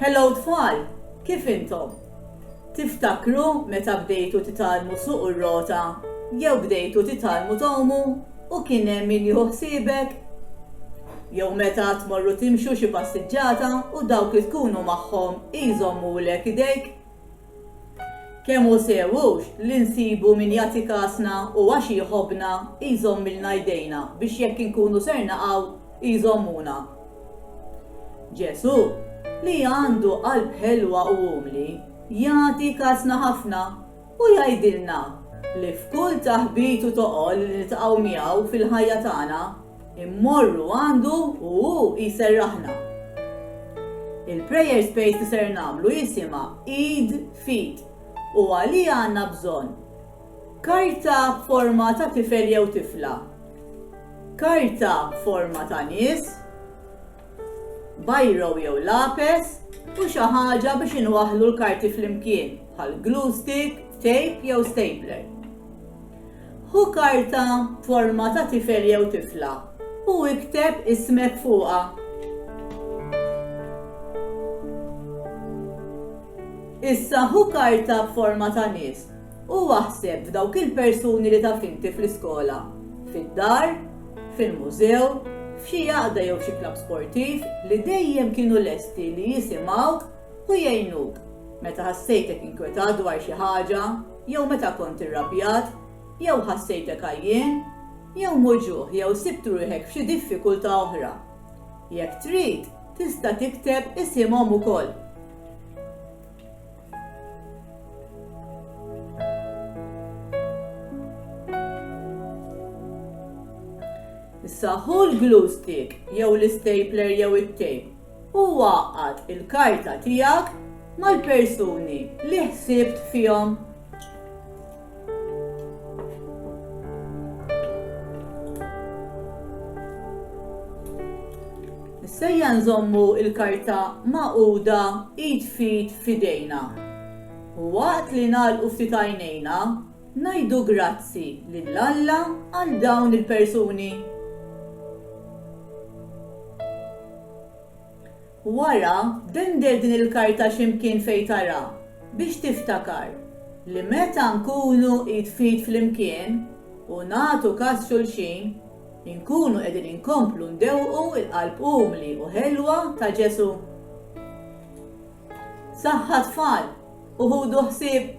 Hello tfal! Kif intom? Tiftakru meta bdejtu titgħallmu ssuqu r-rota jew bdejtu titgħallmu tgħumu u kien hemm min jieħu ħsiebek? Jew meta tmorru timxu xi passiġġata u dawk li tkunu magħhom jżommulek idejk? Kemm hu sew hux li nsibu min jagħti kasna u għax jħobbna jżommilna jdejna biex jekk inkunu ser naqgħu jżommuna. Ġesù, li għandu qalb ħelwa u umli, jagħti kasna ħafna u jgħidilna li f'kull taħbit u toqol li niltaqgħu miegħu fil-ħajja tagħna, Immorru għandu u hu jserraħna. Il-prayer space li ser nagħmlu jisimha Eid Feed u għalija għandna bżonn karta b'forma ta' tifel jew tifla, karta b'forma ta' nies, bajro jew lapes u xi ħaġa biex inwaħħlu l-karti flimkien bħal glue stick, tape jew stapler. Ħu karta b'forma ta' tifel jew tifla u ikteb ismek fuqha. Issa hu karta b'forma ta' nies U aħseb f'dawk il-persuni li taf inti fl-iskola, fid-dar, fil-mużew, f'xi għaqda jew xi klabb sportiv li dejjem kienu lesti li jisimgħuk u jgħinuk meta ħassejtek inkwetat dwar xi ħaġa jew meta kont irrabjat jew ħassejtek għajjien jew muġugħ jew sibt ruħek f'xi diffikultà oħra. Jekk trid, tista' tikteb isimhom ukoll. Issa ħu l-glue stick jew l-istapler jew it-tape u waqgħad il-karta tiegħek mal-persuni li ħsibt fihom. Sejja nżommu il-karta maquda id fit fidejna. U waqt li nagħlqu ftit għajnejna, ngħidu grazzi lil Alla għal dawn il-persuni. Wara, dender din il-karta xi mkien fejn tara, biex tiftakar li meta nkunu id f'id flimkien u nagħtu kas xulxin, inkunu qegħdin inkomplu ndewwqu l-qalb umli u ħelwa ta' Ġesù. Saħħa tfal u ħudu ħsieb!